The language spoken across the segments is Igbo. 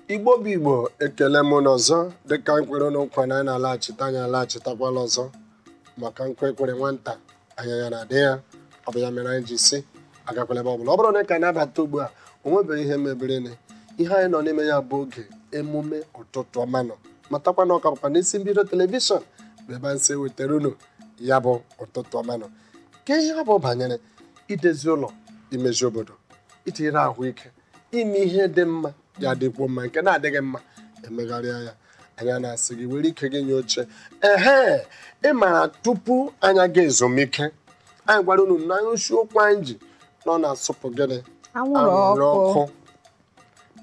igbo bụ igbo ekele m unu ọzọ dịka anyị kwere unu nkwa na anyị na-alaghachite anyị alaghachitakwala ọzọ maka nkwa e kwere nwata anya ya na-adị ya ọ bụ ya mere anyị ji sị agakwala ebe ọbụla ọ bụrụ na ị ka na-abata ugbu a o nwebeghị ihe mebirini ihe anyị nọ n'ime ya bụ oge emume ụtụtụ ọma nụ matakwa na ọ ka bụkwa n'isi mbido telivishọn bụ ebe anyị si ewetara unu ya bụ ụtụtụ ọma nụ ka ihe ọ bụ banyere idezi ụlọ imezi obodo itinyere ahụike ime ihe dị mma ya dịkwuo mma nke na-adịghị mma emegharịa ya anyị na-asị gị were ike gị nye oche ehe ị mara tupu anyị aga ezumike anyị gwara unu na isiokwu anyị ji nọ na-asụpụ gịnị anwụrụ ọkụ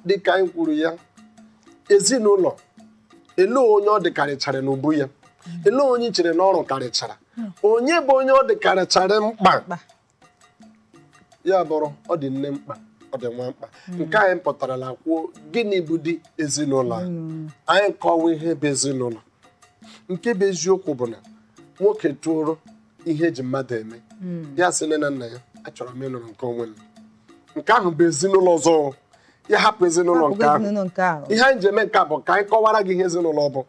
dịka anyị kwuru ya ezinụlọ elee onye ọ dịkarịchara n'ubu ya elee onye i chere na ọrụ karịchara hmm. onye bụ onye ọ dịkarịchara mkpa ya bụrụ ọ dị nne mkpa ọ dị nwa mkpa hmm. nke anyị pụtarala kwuo gịnị bụdị ezinụlọ hmm. anyị akọwaa ihe bụ ezinụlọ nke bụ eziokwu bụ na nwoke toro ihe eji mmadụ eme ya sị nne na nna ya achọrọ m ịnụrụ nke onwe m nke ahụ bụ ezinụlọ ọzọ ya hapụ ezinụlọ nke ahụ ihe anyị ji eme nke a bụ ka anyị kọwara gị ihe ezinụlọ bụ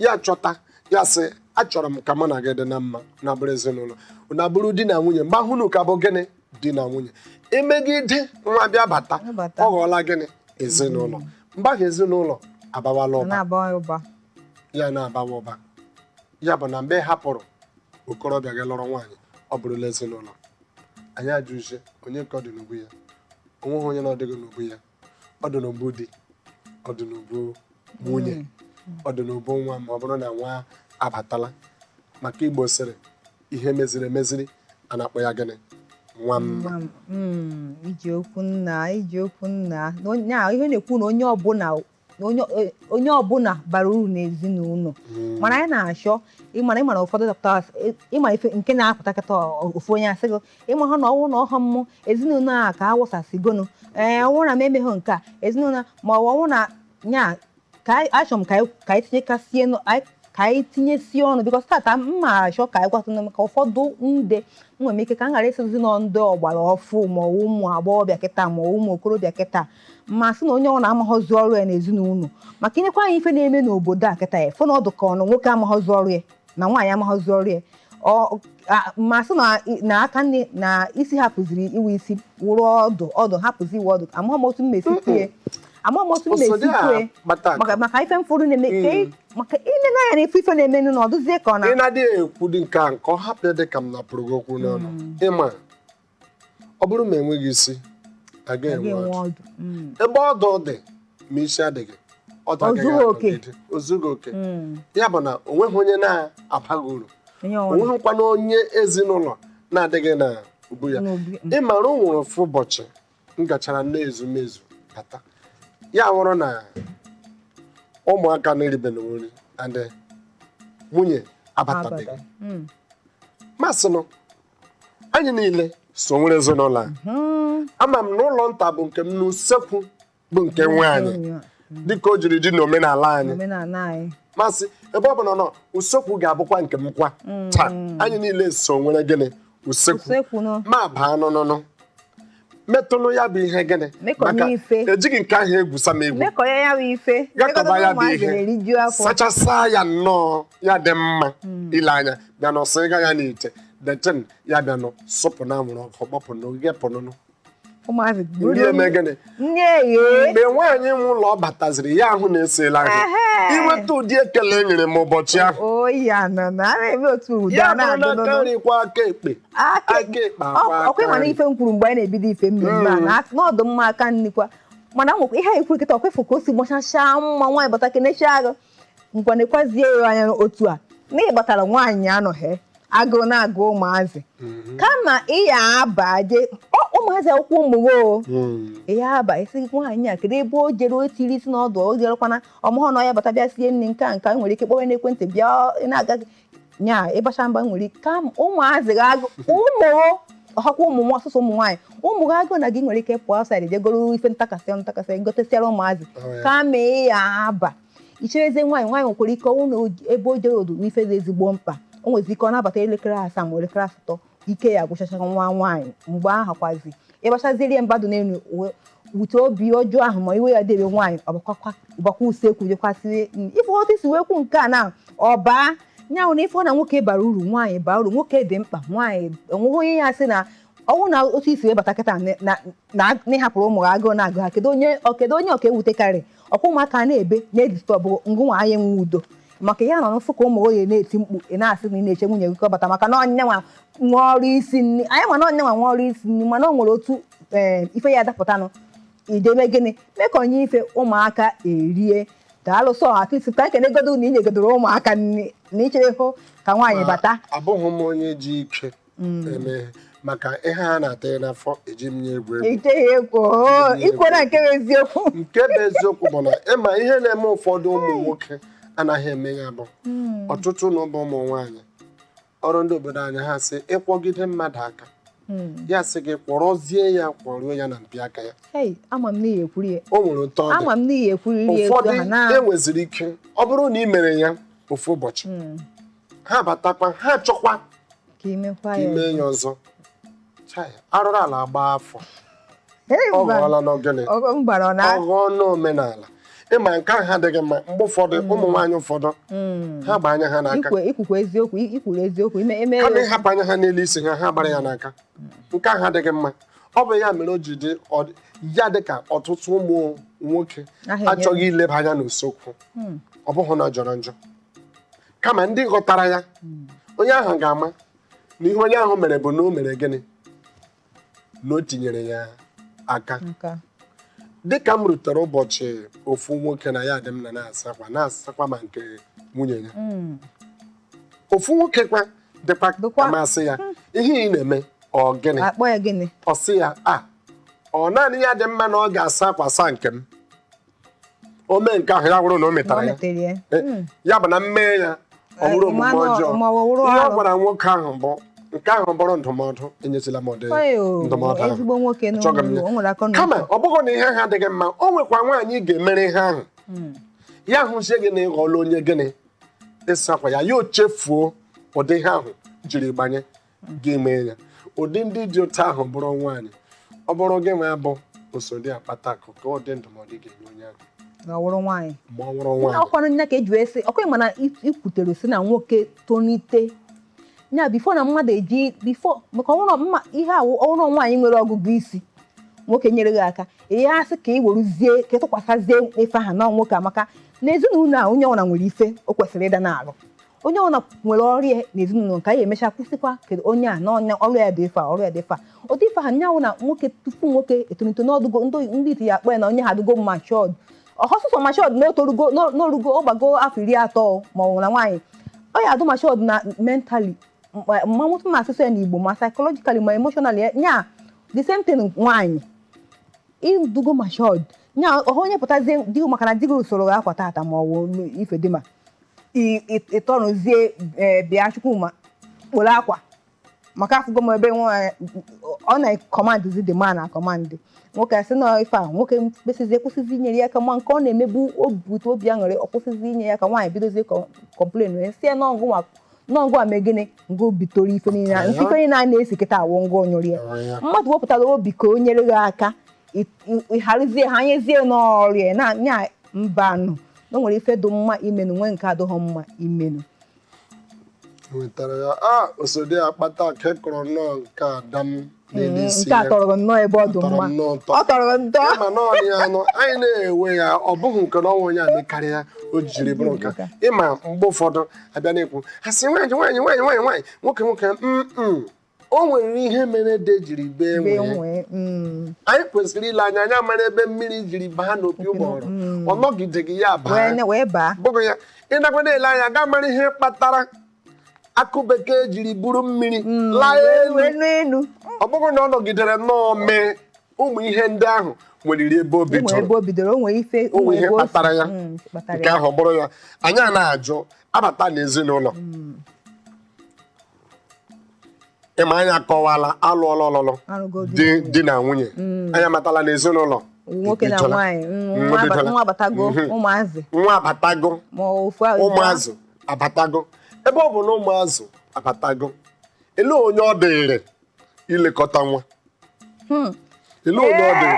ya chọta ya sị achọrọ m ka mụ na gị dị na mma unu abụrụ ezinụlọ unu abụrụ di na nwunye mgbe ahụ unu ka bụ gịnị di na nwunye emegide nwa bịa bata ọ ghọọla gịnị ezinụlọ mgbe ahụ ezinụlọ abawala ụba ya na-abawa ụba ya bụ na mgbe ị hapụrụ okorobịa gaa lụrụ nwaanyị ọ bụrụla ezinụlọ anyị ajụzie onye ka ọ dị n'ubu ya o nweghị onye na ọ dịghị n'ubu ya ọ dị n'ubu di ọ dị n'ubu nwunye ọ dị n'ubu nwa ma ọ bụrụ na nwa abatala maka igbo sịrị ihe e meziri emeziri a na-akpọ ya gịnị nwa mma hmm, i ji okwu nna i ji okwu nna ihe na-ekwu na onye ọbụla onye ọbụla bara uru n'ezinụlọ hmm. mana anyị na-achọ ịmara ịmara ụfọdụ dọkịta ị ma ife nke na-apụta kịta ofu onye asị gị ị ma ha na ọ wụ na ọha mmụ ezinụlọ a ka awụsasịgonu ee ọ wụ na m emeghị nke a ezinụlọ ma ọ bụ ọ wụ na nya ka anyị- achọrọ m ka anyị- ka anyị tinyekasie nụ- anyị- ka anyị tinyesie ọnụ because taata m ma achọ ka anyị gwatụnụ maka ụfọdụ ndị nwere ike ka m ghara ịsịzi na ndị ọgbara ọfụụ ma ọ bụ ụmụ agbọghọbịa kịta ma ọ bụ ụmụ okorobịa kịta ma sị na onye ọ na-amaghọzi ọrụ ya n'ezinụlọ maka i nekwaa anya ife na-eme n'obodo a kịta ị ya-afụ na ọ dụ ka ọ na nwoke amaghọzi ọrụ ya na nwaanyị amaghọzi ọrụ ya Ọ- a- ma sị na na aka nne na isi hapụziri ịwụ isi wụrụ ọdụ ọdụ hapụzi ịwụ ọdụ amaghị m otu m na-esi kwue amaghị m otu m na-esi Osodi a kwue kpata maka maka ife m fụrụ na-eme ka ị- maka i le anya na ife ife na-emenụ na ọ dụzie ka ọ na ị na-adịghị ekwu dị nke a nke ọ hapụ ya dị ka m napụrụ gị okwu n'ọnụ ị ma ọ bụrụ ma enweghị isi agaghị enwe ọdụ ọdụ Mm. ebe ọdụ dị ma isi adịghị ọdụ O agaghị zughị oke. anọgide. o zughị oke Mm. ya bụ na o nweghị onye na-abaghị uru onye o ọrụ nweghịkwana onye ezinụlọ na-adịghị na ubu ya n'obi ị mara o nwere ofu ụbọchị m gachara nne ezumezu bata ya wụrụ na ụmụaka na-eribela nri and nwunye abatabeghị abata Mm. m asịnụ anyị niile so nwere ezinụlọ a Mhm. ama m na ụlọ nta bụ nke m na usekwu bụ nke nwaanyị Enyo, dịka o jiri dị n'omenala anyị omenala anyị m asị ebe ọ bụ na usekwu ga-abụkwa nke m kwa taa anyị niile so nwere gịnị usekwu usekwu nọ m abaa nụnụnụ metụnụ ya bụ ihe gịnị Mekọ maka ya ife. ejighị nke ahụ egwusa m egwu mekọ ya ya bụ ife gakọba ya bụ ụmụazị ihe na-eriju afọ sachasa ya nnọọ ya dị mma ile anya bịa nọ sịga ya n'ite the thing ya bịa nọ sụpụ na anwụrụ ọkụ gbapụ na oge pụnụnụ ụmụazị ndị buru eme gịnị nne eghe mgbe nwaanyị nwe ụlọ ọ bataziri ya ahụ na esiela ahụ Ehe. ị nweta ụdị ekele e nyere m ụbọchị ahụ oyi anọ na a na-eme otu ụda ya bụrụ na aka na-adụnụ nri kwọọ aka ekpe aka ekpe akwọọ aka ọ kwa ị ma na nri. ife m kwuru mgbe anyị na-ebido ife mmemme a na- na ọ dị mma aka nni kwọọ mana nwekwa ihe anyị kwuru kịta ọ kwa ị fụ ka o si gbachachaa mbọ nwaanyị bata kenechaa gụ ngwa nekwazie ya anya otu a na ị batara nwaanyị anọghị agụụ na-agụ ụmụazị kama ị ya-abaje ọ ụmụazị akwụkwọ ụmụwo o Mm. ya aba esi nwaanyị a kedu ebe o jere o tiri isi n'ọdụ o jerekwana ọ mahọ na ọ ya-abata bịa sie nri nke a nke a nwere ike kpọwa n'ekwentị bịa ị na-aga nya ị bachaa mba nwere ike ka ụmụazị gị agụ ụmụ ọhakwa ụmụ nwa ọsụsụ ụmụ nwaanyị ụmụ gị agụ na gị nwere ike pụọ outside jegoro ife ntakasị ntakasị gotesịara ụmụazị oh, kama ị ya-aba ichereze nwaanyị nwaanyị nwekwara ike ọ wụ na ebe o jere ọ dụ ife dị ezigbo mkpa o nwezi ike ọ na-abata elekere asaa ma elekere asatọ ike ya-agwụchacha nwa nwaanyị mgbe ahụ kwazi ị bachaziri mba dị n'elu ụwa wete obi ọjọọ ahụ ma iwe ya debe nwaanyị ọ bakwa usekwu jekwasịrị ife otu i si wee kwuo nke a na ọba nya wụ na ife ọ na nwoke bara uru nwaanyị bara uru nwoke dị mkpa nwaanyị o nweghị onye ya sị na ọ wụ na otu i si wee bata kịta na na- na- na ị hapụrụ ụmụ gị agụụ na-agụ ha kedu onye ọ- kedu onye ọ ka ewutekarị ọ kwa ụmụaka na-ebe na-edisturb ngụnwa anyị enwe udo maka ya nọ na-afụ ka ụmụ gị na-eti mkpu ị na-asị na ị na-eche nwunye gị ka ọ bata maka na ọ nya nwa nwe ọrụ isi nri anyị ma na ọ nya nwa nwe ọrụ isi nri mana o nwere otu ee, ife ya adapụtanụ idebe gịnị mee ka o nwee ife ụmụaka erie daalụ sọ at least ka e kenegodo na ị nyegodoro ụmụaka nri na i cherehụ ka nwaanyị bata abụghị m onye ji ike mm. eme maka ihe a na-ata ya n'afọ eji m nya egwu egwu oh, ikwu na nke bụ eziokwu nke bụ eziokwu bụ na ị ma ihe na-eme ụfọdụ ụmụ nwoke anaghị eme ya bụ mm. ọtụtụ na ụmụ ụmụ nwaanyị ọ wụrụ ndị obodo anyị ha sị ị kwọgide mmadụ aka Hmm. ya sị gị kwọrọzie ya kwọruo ya na mpi aka ya o nwere ụtọ ụfọdụ enweziri ike ọ bụrụ na ị mere ya ofu ụbọchị hmm. ha batakwa ha chọkwa ka i mee ya ọzọ arụrụ ala gbaa afọ ọ ghọọlanụ gịnị ọ ghọọnụ omenala ị ma nke ahụ adịghị mma mgbe ụfọdụ mm. ụmụ nwaanyị ụfọdụ mm. ha gba anya ha n'aka i kwukwara eziokwu i kwuru eziokwu ime eme ha na-ahapụ anya ha n'elu isi ha ha gbara ya n'aka mm. nke ahụ adịghị mma ọ bụ ya mere o ji dị ya dị ka ọtụtụ ụmụ nwoke achọghị ileba anya n'usekwu ọ bụghị na ọ jọrọ njọ kama ndị ghọtara ya onye ahụ ga-ama na ihe onye ahụ mere bụ na o mere gịnị na o tinyere ya aka dịka m rutere ụbọchị ofu nwoke na ya dị m na na-asa akwa na-asakwa ma nke nwunye ya Mm. ofu nwoke kwa dịkwa Dịkwa. amasị ya ihe ị na-eme ọ gịnị a kpọ ya gịnị ọ sị ya a ọ naanị ya dị mma na ọ ga-asa akwa saa nke m o mee nke ahụ ya wụrụ na o metara ya eh, ya bụ na m mee ya ọ wụrụ omume ọjọọ ihe ọ gwara nwoke ahụ bụ nke ahụ bụrụ ndụmọdụ enyezila m ụdị ndụmọdụ ahụ kama ọ bụghị na ihe ahụ adịghị mma o nwekwa nwaanyị ị ga-emere ihe ahụ hmm. ya hụzie gị na ị ghọọla onye gịnị ịsa akwa ya ya o chefuo ụdị ihe ahụ jiri gbanye ga-eme ya ụdị ndị dị otu ahụ bụrụ nwaanyị ọ bụrụ gị nwa bụ oso di akpata akụ kee ụdị ndụmọdụ ị ga-enye onye ahụ ma ọ wụrụ nwaanyị ma ọ wụrụ nwaanyị ọ kwanụ nya ka e ji wee sị ọkwa mana i kwutere sị na nwoke tonite nya before na mmadụ eji bifo maka ọ wụrụ mma ihe awụ ọ wụrụ nwaanyị nwere ọgụgụ isi nwoke nyere gị aka ihe asị ka ị weruzie ka ị tụkwasịzie ife ahụ na nwoke maka na ezinụlọ a onye ọbụla nwere ife o kwesịrị ịdị na-arụ onye ọ wụna nwere ọrụ ya n'ezinụlọ nke anyị e mechaa kwụsịkwa kedu onye a na ọ nya ọrụ ya dị ife a ọrụ ya dị ife a ụdị ife ha nya wụ na nwoke tupu nwoke etolito na ọ dịgo ndị ndị iti ya akpọ ya na onye a adịgo matured ọ sọsọ matured na o torugo na o rugo ọ gbago afọ iri atọ ma ọ bụ na nwaanyị ọ ya-adị matured na mentally mmanwụtụ na asụsụ ya na Igbo ma psychologically ma emotionally ya nya the same thing nwaanyị ị dịgo matured nya ọha onye pụtazie di maka na di gị sụọrọ gị akwa tata ma ọ bụ ife dị mma ịtọrụzie e, bịa Chukwuma kporo akwa maka afụgo m ebe nwaanyị ọ na-ekọmandịzi the man na-akọmandị nwoke a sị na ife a nwoke kwụsịzi akwụsịzi inyere ya aka ma nke ọ na-emebu obute obi aṅụrị ọ kwụsịzi inye ya aka nwaanyị bidozie complain wee sị ya na ọgụ nwa n'ọgụ a mee gịnị ngụ bitoro ife niile a ife niile a na-esi kịta awụ ngụ onyụrụ ya mmadụ wepụtara obi ka o nyere gị aka ịharụzie ha nyezie n'ọrịa na mbanụ na o nwere ife dị mma imenụ nwee nke adịghị mma imenụ nwetara ya a osodi akpatakụ kọrọ nnọọ nke ada m n'elu isi nke ya a tọrọ nnọọ ebe ọ dị tọrọ mma nnọọ ụtọ ọ tọrọ ntọ ịma na ọnị ya anụ anyị na-ewe ya ọ bụghị nke na o nwe onye a mekarị ya o jiri bụrụ nke a. ịma mgbe ụfọdụ a bịa na-ekwu a sị nwaanyị nwaanyị nwaanyị nwaanyị nwaanyị nwoke nwoke mm o nwere ihe mere ede jiri bee nwee Bee nwee. Mm. anyị kwesịrị ile anya anya mara ebe mmiri jiri baa n'opi ụgbọghọrọ ọ nọgideghị ya Wee baa ne- wee baa. bụghị ya ị nakwa na-ele anya gaa mara ihe kpatara akụ bekee jiri buru mmiri laa elu Wee naa enu. ọ bụghị na ọ nọgidere nnọọ mee ụmụ ihe ndị ahụ nweriri ebe o bi- O nwere ebe tụrụ o bidoro, o nwere ife. o nwere ihe ebe o si- kpatara ya Mm, kpatara nke ya. ahụ ọ bụrụ ya anyị a na-ajụ abata n'ezinụlọ ịma anyị akọwala alụọla ọlụlụ alụgodu di di na nwunye Mm. anyị amatala na ezinụlọ nwoke na ebidola. nwaanyị mm, Mm, nwa aba- ebidola. nwa abatago Mhm. ụmụazị nwa abatago ma ofu ahụ ụmụazụ abatago ebe ọ bụ na ụmụazụ abatago ele onye ọ dịrị ilekọta nwa hmm. ele onye ọ dị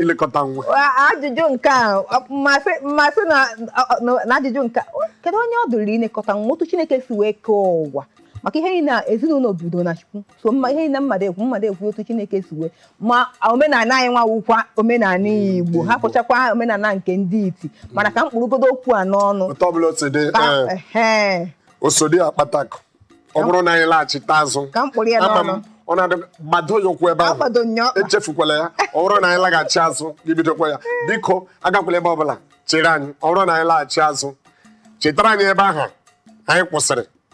ilekọta nwa ajụjụ nke a mmasị mmasị na ajụjụ nke kedu onye ọ dụrụ ilekọta nwa otu Chineke si wee kee ụwa maka ihe niile ezinụlọ bido na Chukwu so mma ihe niile mmadụ ekwu mmadụ ekwu otu Chineke si wee ma omenala anyị nwa wụkwa omenala hmm, Igbo ha kpọchakwa omenala nke ndị iti mana ka m kpụrụgodu okwu a n'ọnụ osodi akpatakụ ọ bụrụ na anyị laghachite azụ ka m kpụrụ ya ama m n'ọnụ ọ na-adị gbado ya ụkwụ ebe ahụ agbado nya ọkpa echefukwala ya ọ bụrụ na anyị laghachi azụ gị bidokwa ya biko agakwala ebe ọbụla chere anyị ọ bụrụ na anyị laghachi azụ chetara anyị ebe ahụ anyị kwụsịrị